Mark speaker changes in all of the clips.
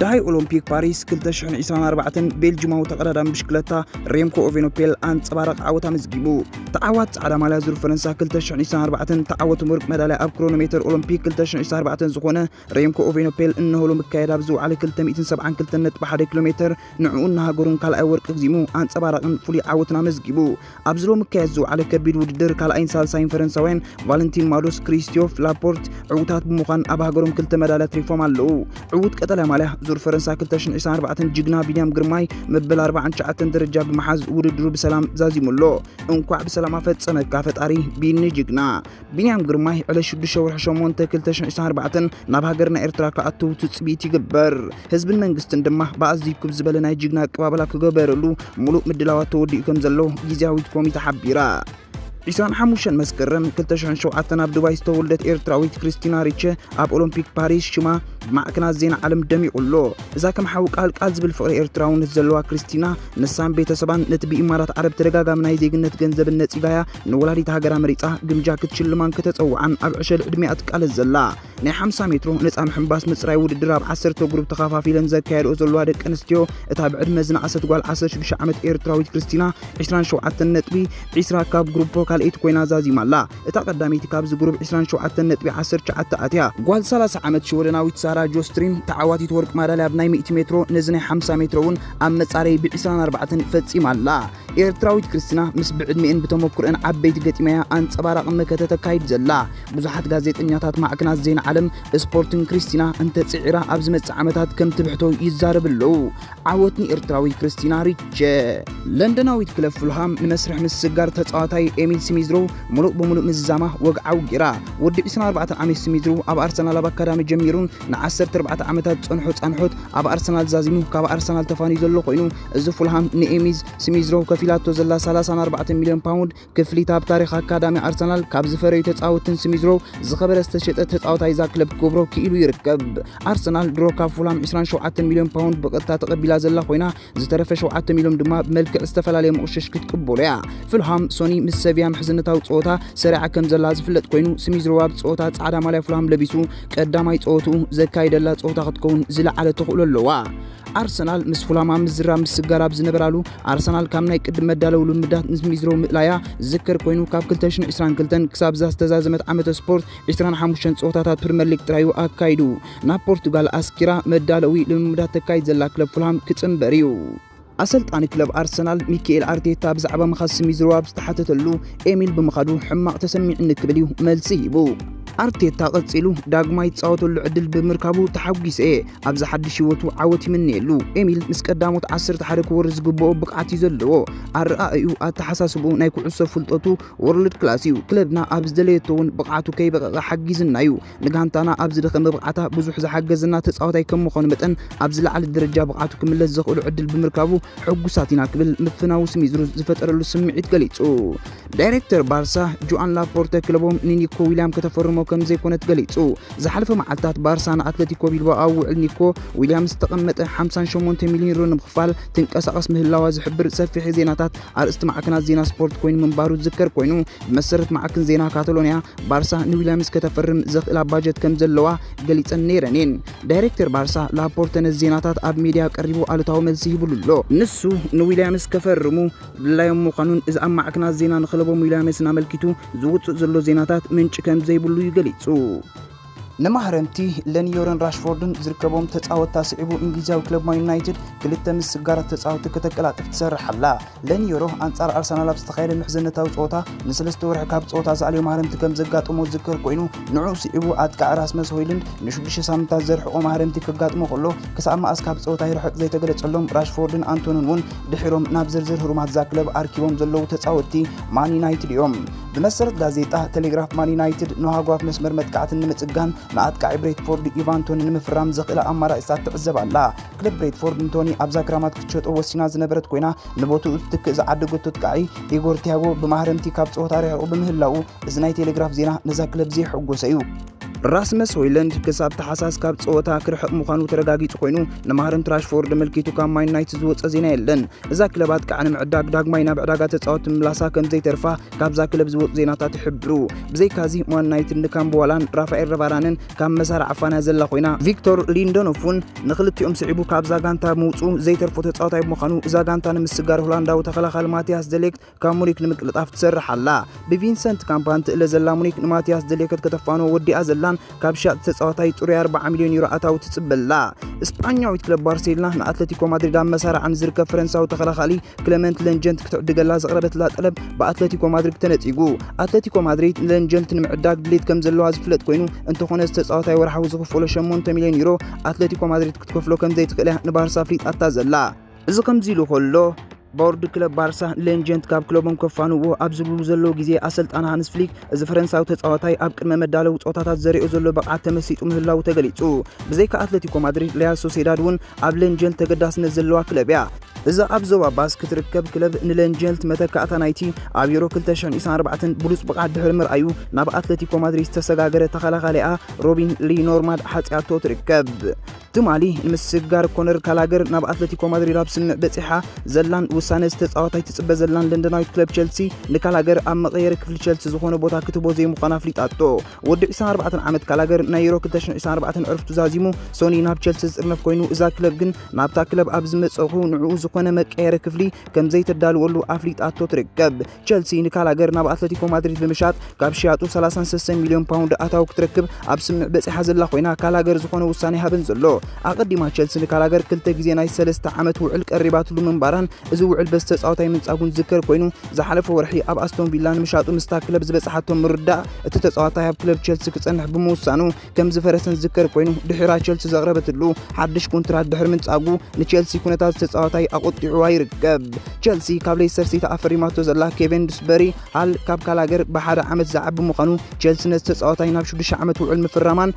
Speaker 1: ዳይ ኦሎምፒክ ፓሪስ 2024 ቤልጅማዊ ተቐዳዳሚ ብሽክለታ ሬምኮ ኦቬኖፔል ኣንጸባረቕ ዓወት ኣመዝጊቡ ተዓዋት ጻዕዳ ማልያ ዙር ፈረንሳ 2024 ተዓወት ወርቂ መዳልያ ኣብ ክሮኖሜተር ኦሎምፒክ 2024 ዝኾነ ሬምኮ ኦቬኖፔል እነሆሎ ምካየድ ኣብ ዝውዓለ 272.1 ኪሎ ሜተር ንዕኡን ንሃገሩን ካልኣይ ወርቂ ክዚሙ ኣንጸባራቕን ፍሉይ ዓወትን ኣመዝጊቡ ኣብዚ ሎሚ ክካየድ ዝውዓለ ከቢድ ውድድር ካልኣይን ሳልሳይን ፈረንሳውያን ቫለንቲን ማዶስ፣ ክሪስትዮፍ ላፖርት ዕውታት ብምዃን ኣብ ሃገሮም ክልተ መዳልያ ትሪፎም ኣለዉ። ዕውት ቀጠልያ ማልያ ዙር ፈረንሳ 2024 ጅግና ቢንያም ግርማይ መበል 49 ደረጃ ብምሓዝ ውድድሩ ብሰላም ዛዚሙ ኣሎ። እንኳዕ ብሰላም ኣፈጸመካ ፈጣሪ ቢኒ ጅግና። ቢንያም ግርማይ ዕለት 6 ወርሒ 8 2024 ናብ ሃገርና ኤርትራ ክኣትው ትጽቢት ይግበር። ህዝብን መንግስትን ድማ ብኣዝዩ ክብ ዝበለ ናይ ጅግና ኣቀባብላ ክገበረሉ ሙሉእ ምድላዋት ተወዲኡ ከም ዘሎ ግዝያዊት ኮሚተ ሓቢራ። 25 መስከረም 2007 ኣብ ዱባይ ዝተወልደት ኤርትራዊት ክርስቲና ሪቸ ኣብ ኦሎምፒክ ፓሪስ ሽማ ብማዕከናት ዜና ዓለም ደሚቑ ኣሎ። እዛ ከም ሓዊ ቃል ቃል ዝብል ፍቕሪ ኤርትራውነት ዘለዋ ክርስቲና ንሳን ቤተሰባን ነቲ ብኢማራት ዓረብ ተደጋጋሚ ናይ ዜግነት ገንዘብን ነጺጋያ ንወላዲት ሃገራ መሪጻ ግምጃ ክትሽልማን ከተጸውዓን ኣብ ዕሸል ዕድሜኣ ትቃለስ ዘላ ናይ 50 ሜትሮ ነጻ ምሕንባስ ምጽራይ ውድድር ኣብ 10 ግሩፕ ተኻፋፊለን ዘካየድኦ ዘለዋ ደቂ ኣንስትዮ እታ ብዕድመ ዝነኣሰት ጓል 16 ዓመት ኤርትራዊት ክርስቲና 27 ነጥቢ 20 ካብ ግሩፖ ካልኣይቲ ኮይና ዛዚማ ኣላ። እታ ቀዳመይቲ ካብዚ ግሩፕ 27 ነጥቢ 19 ኣትያ። ጓል 30 ዓመት ሽወደናዊት ሳራ ጆስትሪም ተዓዋቲት ወርቂ ማዳልያ ብ ናይ ሚእቲ ሜትሮ ነዚ ናይ ሓምሳ ሜትሮ እውን ኣብ መጻረዪ ብ 24 ፈጺማ ኣላ። ኤርትራዊት ክርስትና ምስ ብዕድሜኤን ብተመኩርኤን ዓበይቲ ገጢማያ ኣንጸባራቒ መከተ ተካይድ ዘላ ብዙሓት ጋዜጠኛታት ማዕክናት ዜና ዓለም ስፖርትን ክርስቲና እንተጽዒራ ኣብ ዝመጽእ ዓመታት ከም ትብሕቶ ይዛረብ ኣለዉ። ዓወት ንኤርትራዊት ክርስቲና ሪቸ። ለንደናዊት ክለብ ፉልሃም ንመስርሕ ምስስጋር ተጻዋታይ ኤሚል ስሚዝሮ ምሉእ ብምሉእ ምዝዛማ ወግዓዊ ጌራ። ወዲ 24 ዓመት ስሚዝሮ ኣብ ኣርሰናል ኣብ ኣካዳሚ ጀሚሩን ን14 ዓመታት ዝጸንሖ ጻንሖት ኣብ ኣርሰናል ዛዚሙ ካብ ኣርሰናል ተፋንዩ ዘሎ ኮይኑ እዚ ፉልሃም ንኤሚዝ ስሚዝሮው ከፊላቶ ዘላ 34 ሚልዮን ፓውንድ ክፍሊት ኣብ ታሪኽ ኣካዳሚ ኣርሰናል ካብ ዝፈረዩ ተጻወትን ስሚዝሮው ዝኸበረ ዝተሸጠ ተጻወታይ እዛ ክለብ ክገብሮ ክኢሉ ይርከብ። ኣርሰናል ድሮ ካብ ፉልሃም 27 ሚልዮን ፓውንድ ብቐጥታ ተቐቢላ ዘላ ኮይና ዝተረፈ 7 ሚልዮን ድማ ብመልክዕ ዝተፈላለየ ምቕሽሽ ክትቅበሎ እያ። ፉልሃም ሶኒ ምስ ሰቪያ ምሕዝነታዊ ጸወታ ሰሪዓ ከም ዘላ ዝፍለጥ ኮይኑ ስሚዝሮው ኣብ ጸወታ ጻዕዳ ማልያ ፉልሃም ለቢሱ ቀዳማይ ጸወትኡ ዘካይደላ ጸወታ ክትከውን ዝለዓለ ተኽእሎ ኣለዋ። ኣርሰናል ምስ ፉላም ኣብ ምዝራብ ምስጋር ኣብ ዝነበራሉ ኣርሰናል ካብ ናይ ቅድም መዳለው ልምዳት ምስ ሚዝሮ ምእላያ ዝከር ኮይኑ ካብ 222 ክሳብ እዛ ዝተዛዘመት ዓመተ ስፖርት 25 ፀወታታት ፕሪምየር ሊግ ጥራዩ ኣካይዱ ናብ ፖርቱጋል ኣስኪራ መዳለዊ ልምምዳት ተካይድ ዘላ ክለብ ፉልሃም ክፅምበር እዩ ኣሰልጣኒ ክለብ ኣርሰናል ሚካኤል ኣርቴታ ብዛዕባ ምኻድ ስሚዝሮ ኣብ ዝተሓተተሉ ኤሚል ብምኻዱ ሕማቕ ተሰሚዕኒ ክብል እዩ መልሲ ሂቡ ኣርቴታ ቀጺሉ ዳግማ ይጻወተሉ ዕድል ብምርካቡ ተሓጒሰ እየ ኣብዚ ሓድሽ ህይወቱ ዓወት ይምነየሉ። ኤሚል ምስ ቀዳሞት ዓሰርተ ሓደ ክወርድ ዝግብኦ ብቕዓት እዩ ዘለዎ። ኣረኣእዩ፣ ኣተሓሳስብኡ፣ ናይ ኩዕሶ ፍልጠቱ ወርልድ ክላስ እዩ። ክለብና ኣብ ዝደለየቶ እውን ብቕዓቱ ከይበቐቐ ሓጊዝና እዩ። ንጋንታና ኣብ ዝደኸመ ብቕዓታ ብዙሕ ዝሓገዘና ተጻዋታይ ከም ምዃኑ መጠን ኣብ ዝለዓለ ደረጃ ብቕዓቱ ክምለስ ዘኽእሎ ዕድል ብምርካቡ ሕጉሳት ኢና ክብል ምፍናዉ ስሚዝሩዝ ዝፈጠረሉ ስምዒት ገሊጹ። ዳይሬክተር ባርሳ ጆኣን ላፖርተ ክለቦም ንኒኮ ዊልያም ከተፈርሞ ከም ዘይኮነት ገሊጹ። ዝሓለፈ መዓልታት ባርሳ ንኣትለቲኮ ቢልባኦ ኣብ ውዕል ኒኮ ዊልያም ዝተቐመጠ 58 ሚልዮን ዩሮ ንምኽፋል ትንቀሳቐስ ምህላዋ ዝሕብር ሰፊሕ ዜናታት ኣርእስቲ ማዕከናት ዜና ስፖርት ኮይኑ ምንባሩ ዝዝከር ኮይኑ ብመሰረት ማዕክን ዜና ካታሎንያ ባርሳ ንዊልያምስ ከተፈርም ዘኽእላ ባጀት ከም ዘለዋ ገሊጸን ነይረን እየን። ዳይሬክተር ባርሳ ላፖርተ ነዚ ዜናታት ኣብ ሜድያ ቀሪቡ ኣሉታዊ መልሲ ሂብሉ ኣሎ። ንሱ ንዊልያምስ ከፈርሙ ድላዮም ምዃኑን እዚ ኣብ ማዕክናት ዜና ንክለቦም ዊልያምስን ኣመልኪቱ ዝውጽእ ዘሎ ዜናታት ምንጪ ከም ዘይብሉ እዩ ገሊጹ። ንማህረምቲ ለንዮርን ራሽፎርድን ዝርከቦም ተጻወትቲ ኣስዒቡ እንግሊዛዊ ክለብ ማን ዩናይትድ ክልተ ምስጋራት ተጻወትቲ ከተቀላጥፍ ትሰርሕ ኣላ። ለንዮሮ ኣንጻር ኣርሰናል ኣብ ዝተኻየደ ምሕዝነታዊ ጸወታ ንሰለስተ ወርሒ ካብ ጸወታ ዝኣልዮ ማህረምቲ ከም ዘጋጠሞ ዝዝከር ኮይኑ ንዕኡ ስዒቡ ኣጥቃዒ ራስመስ ሆይሉንድ ንሽዱሽተ ሳምንታት ዘርሕቆ ማህረምቲ ከጋጥሞ ከሎ ክሳብ መኣስ ካብ ጸወታ ይርሕቅ ዘይተገለጸሎም ራሽፎርድን ኣንቶንን እውን ድሒሮም ናብ ዝርዝር ህሩማት እዛ ክለብ ኣርኪቦም ዘለዉ ተጻወትቲ ማን ዩናይትድ እዮም። ብመሰረት ጋዜጣ ቴሌግራፍ ማን ዩናይትድ ንሃጓፍ መስመር መጥቃዕትን ንምጽጋን ንኣጥቃዒ ብሬትፎርድ ኢቫን ቶኒ ንምፍራም ዘኽእላ ኣማራጺታት ትዕዘብ ኣላ። ክለብ ብሬትፎርድ ንቶኒ ኣብዛ ክራማት ክትሸጦ ወሲና ዝነበረት ኮይና ንቦትኡ ዝትክእ ዝዓደገቶ ኣጥቃዒ ኢጎር ቲያጎ ብማህረምቲ ካብ ጸወታ ርሒቑ ብምህላዉ እዚ ናይ ቴሌግራፍ ዜና ነዛ ክለብ ዘየሐጎሰ እዩ። ራስመስ ሆይለንድ ክሳብ ተሓሳስ ካብ ጸወታ ክርሕቕ ምዃኑ ተረጋጊጹ ኮይኑ ንማህረንት ራሽፎርድ መልኪቱ ካብ ማን ዩናይትድ ዝወጸ ዜና የለን። እዛ ክለባት ከዓ ንምዕዳግ ዳግማይ ናብ ዕዳጋ ተጻወቲ ምላሳ ከም ዘይተርፋ ካብዛ ክለብ ዝወጹ ዜናታት ይሕብሩ። ብዘይካዚ ማን ዩናይትድ ንካምቦዋላን ራፋኤል ረቫራንን ካብ መሳርዕ ኣፋንያ ዘላ ኮይና ቪክቶር ሊንደኖፍ እውን ንክልቲኦም ስዒቡ ካብዛ ጋንታ ምውጽኡ ዘይተርፎ ተጻዋታይ ብምዃኑ እዛ ጋንታ ንምስጋር ሆላንዳዊ ተኸላኻሊ ማቲያስ ደሌክት ካብ ሙኒክ ንምቅልጣፍ ትሰርሕ ኣላ። ብቪንሰንት ካምፓን ትእለ ዘላ ሙኒክ ንማትያስ ደሌከት ከተፋንዎ ወዲኣ ዘላን ካብ ሸያጥቲ ተጻዋታይ ጽሩይ 40 ሚልዮን ዩሮ ኣታዊ ትጽበ ኣላ። ስጳኛዊት ክለብ ባርሴሎና ንኣትለቲኮ ማድሪድ ኣብ መሳርዓ ንዝርከብ ፈረንሳዊ ተኸላኻሊ ክለመንት ለንጀንት ክትዕድገላ ዘቕረበትላ ጠለብ ብኣትለቲኮ ማድሪድ ተነጺጉ። ኣትለቲኮ ማድሪድ ንለንጀንት ንምዕዳግ ድሌት ከም ዘለዋ ዝፍለጥ ኮይኑ፣ እንተኾነ እዚ ተጻዋታይ ወርሓዊ ዝኽፈሎ ሸሞንተ ሚልዮን ዩሮ ኣትለቲኮ ማድሪድ ክትከፍሎ ከም ዘይትኽእል እያ ንባርሳ ኣፍሊጣታ ዘላ። እዚ ከምዚ ኢሉ ከሎ ቦርድ ክለብ ባርሳ ሌንጀንት ካብ ክለቦም ከፋንዎ ኣብ ዝብሉ ዘለዉ ግዜ ኣሰልጣን ሃንስ ፍሊክ እዚ ፈረንሳዊ ተጻዋታይ ኣብ ቅድመ መዳለዊ ጾታታት ዘሪኦ ዘሎ ብቕዓት ተመሲጡ ምህላዉ ተገሊጹ። ብዘይካ ኣትለቲኮ ማድሪድ ሪያል ሶሴዳድ እውን ኣብ ሌንጀንት ተገዳስነት ዘለዋ ክለብ እያ። እዛ ኣብ ዞባ ባስክ ትርከብ ክለብ ንሌንጀንት መተካእታ ናይቲ ኣብ ዩሮ 2024 ብሉጽ ብቕዓት ድሕሪ ምርኣዩ ናብ ኣትለቲኮ ማድሪድ ዝተሰጋገረ ተኸላኻሊኣ ሮቢን ሊ ኖርማድ ሓጺኣቶ ትርከብ። ትማሊ ንምስግጋር ኮነር ካላገር ናብ ኣትለቲኮ ማድሪድ ኣብ ስምምዕ በጺሓ ዘላን ውሳነ ዝተጻወታይ ትጽበ ዘላን ለንደናዊት ክለብ ቸልሲ ንካላገር ኣብ መቐየሪ ክፍሊ ቸልሲ ዝኾነ ቦታ ክትህቦ ዘይምዃና ኣፍሊጣቶ። ወዲ 24 ዓመት ካላገር ናይ ዩሮ 2024 ዕርፍቱ ዛዚሙ ሶኒ ናብ ቸልሲ ዝጥርነፍ ኮይኑ እዛ ክለብ ግን ናብታ ክለብ ኣብ ዝመጸኹ ንዕኡ ዝኾነ መቀየሪ ክፍሊ ከም ዘይተዳልወሉ ኣፍሊጣቶ ትርከብ። ቸልሲ ንካላገር ናብ ኣትለቲኮ ማድሪድ ብምሻጥ ካብ ሽያጡ 36 ሚልዮን ፓውንድ ኣታዊ ክትረክብ ኣብ ስምምዕ በጺሓ ዘላ ኮይና ካላገር ዝኾነ ውሳኔ ሃበን ዘሎ ኣቐዲማ ቸልሲ ንካላገር ክልተ ግዜ ናይ ሰለስተ ዓመት ውዕል ቀሪባትሉ ምንባራን እዚ ውዕል በዚ ተጻዋታይ ምንጻጉን ዝዝከር ኮይኑ ዝሓለፈ ወርሒ ኣብ ኣስቶን ቪላ ንምሻጡ ምስታ ክለብ ዝበጽሓቶ ምርዳእ እቲ ተጻዋታይ ኣብ ክለብ ቸልሲ ክጸንሕ ብምውሳኑ ከም ዝፈረሰን ዝዝከር ኮይኑ ድሒራ ቸልሲ ዘቕረበትሉ ሓድሽ ኮንትራት ድሕሪ ምንጻጉ ንቸልሲ ኩነታት ተጻዋታይ ኣቖጢዑዋ ይርከብ። ቸልሲ ካብ ሌስተር ሲቲ ኣፈሪማቶ ዘላ ኬቨን ዱስበሪ ሃል ካብ ካላገር ብሓደ ዓመት ዝዓቢ ምዃኑ ቸልሲ ነቲ ተጻዋታይ ናብ ሽዱሽተ ዓመት ውዕል ምፍራማን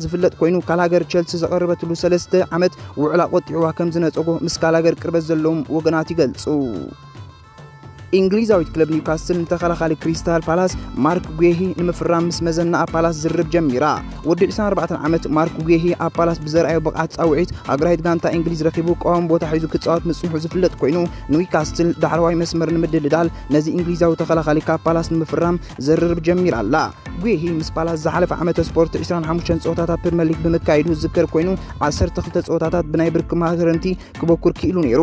Speaker 1: ዝፍለጥ ኮይኑ ካላገር ቸልሲ ዘቐረበትሉ ሰለስተ ዓመት ውዕል ኣቖጢዑዋ ከም ዝነጸጎ ምስ ካላገር ቅርበት ዘለዎም ወገናት ይገልጹ። እንግሊዛዊት ክለብ ኒውካስትል ንተኸላኻሊ ክሪስታል ፓላስ ማርክ ጉሄሂ ንምፍራም ምስ መዘና ኣብ ፓላስ ዝርርብ ጀሚራ ወዲ 24 ዓመት ማርክ ጉሄሂ ኣብ ፓላስ ብዘርኣዮ ብቕዓት ፃውዒት ኣግራሂት ጋንታ እንግሊዝ ረኺቡ ቀዋሚ ቦታ ሒዙ ክፃወት ምፅንሑ ዝፍለጥ ኮይኑ ኒውካስትል ዳዕረዋይ መስመር ንምድልዳል ነዚ እንግሊዛዊ ተኸላኻሊ ካብ ፓላስ ንምፍራም ዝርርብ ጀሚራ ኣላ ጉሄሂ ምስ ፓላስ ዝሓለፈ ዓመተ ስፖርት 25 ፀወታታት ፕሪምየር ሊግ ብምካየዱ ዝዝከር ኮይኑ 12 ፀወታታት ብናይ ብርኪ ማህረንቲ ክበኩር ክኢሉ ነይሩ።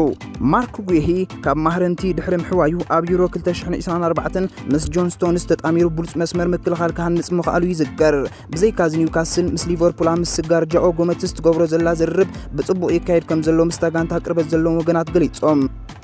Speaker 1: ማርክ ጉሂ ካብ ማህረንቲ ድሕሪ ምሕዋዩ ኣብ ዩሮ 2024 ምስ ጆን ስቶንስ ተጣሚሩ ብሉፅ መስመር ምክልኻል ክሃንፅ ምኽኣሉ ይዝከር። ብዘይካዚ ኒውካስል ምስ ሊቨርፑል ኣብ ምስጋር ጃኦ ጎመትስ ትገብሮ ዘላ ዝርርብ ብፅቡቕ ይካየድ ከም ዘሎ ምስታ ጋንታ ቅርበት ዘለዎም ወገናት ገሊፆም።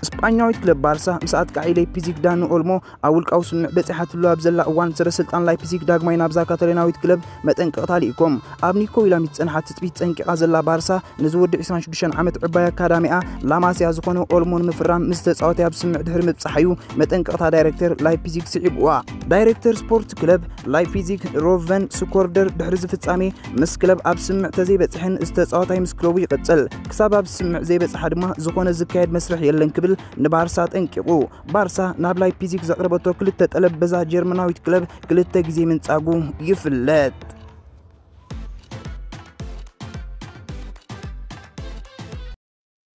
Speaker 1: ስጳኛዊት ክለብ ባርሳ ምስ ኣጥቃዒ ሌፒዚግ ዳኒ ኦልሞ ኣብ ውልቃዊ ስምምዕ በጺሓትሉ ኣብ ዘላ እዋን፣ ሰበስልጣን ላይፕዚግ ዳግማይ ናብዛ ካታሎናዊት ክለብ መጠንቀቕታ ልኢኮም። ኣብ ኒኮ ዊላሚት ዝጸንሓ ትጽቢት ጸንቂቓ ዘላ ባርሳ፣ ነዚ ወዲ ዕስራን ሽዱሽተን ዓመት ዕባይ ኣካዳሚኣ ላማሲያ ዝኾነ ኦልሞ ንምፍራም ምስ ተጻዋታይ ኣብ ስምምዕ ድሕሪ ምብጻሓ'ዩ መጠንቀቕታ ዳይረክተር ላይፕዚግ ስዒብዋ። ዳይረክተር ስፖርት ክለብ ላይፕዚግ ሮቨን ስኮርደር፣ ድሕሪ'ዚ ፍጻሜ ምስ ክለብ ኣብ ስምምዕ ተዘይበጽሐን እዚ ተጻዋታይ ምስ ክለቡ ይቕጽል፣ ክሳብ ኣብ ስምምዕ ዘይበጽሓ ድማ ዝኾነ ዝካየድ መስርሕ የለን ክብል ንባርሳ ኣጠንቂቑ። ባርሳ ናብ ላይፕዚግ ዘቕረበቶ ክልተ ጠለብ በዛ ጀርመናዊት ክለብ ክልተ ግዜ ምንጻጉ ይፍለጥ።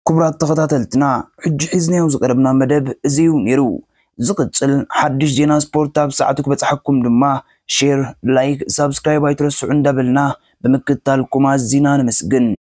Speaker 1: ክቡራት ተኸታተልትና ሕጂ ሒዝናዮ ዝቐረብና መደብ እዚዩ ነይሩ። ዝቕጽል ሓድሽ ዜና ስፖርት ኣብ ሰዓቱ ክበጽሓኩም ድማ ሼር፣ ላይክ፣ ሳብስክራይብ ኣይትረስዑ እንዳበልና ብምክትታልኩም ኣዚና ነመስግን።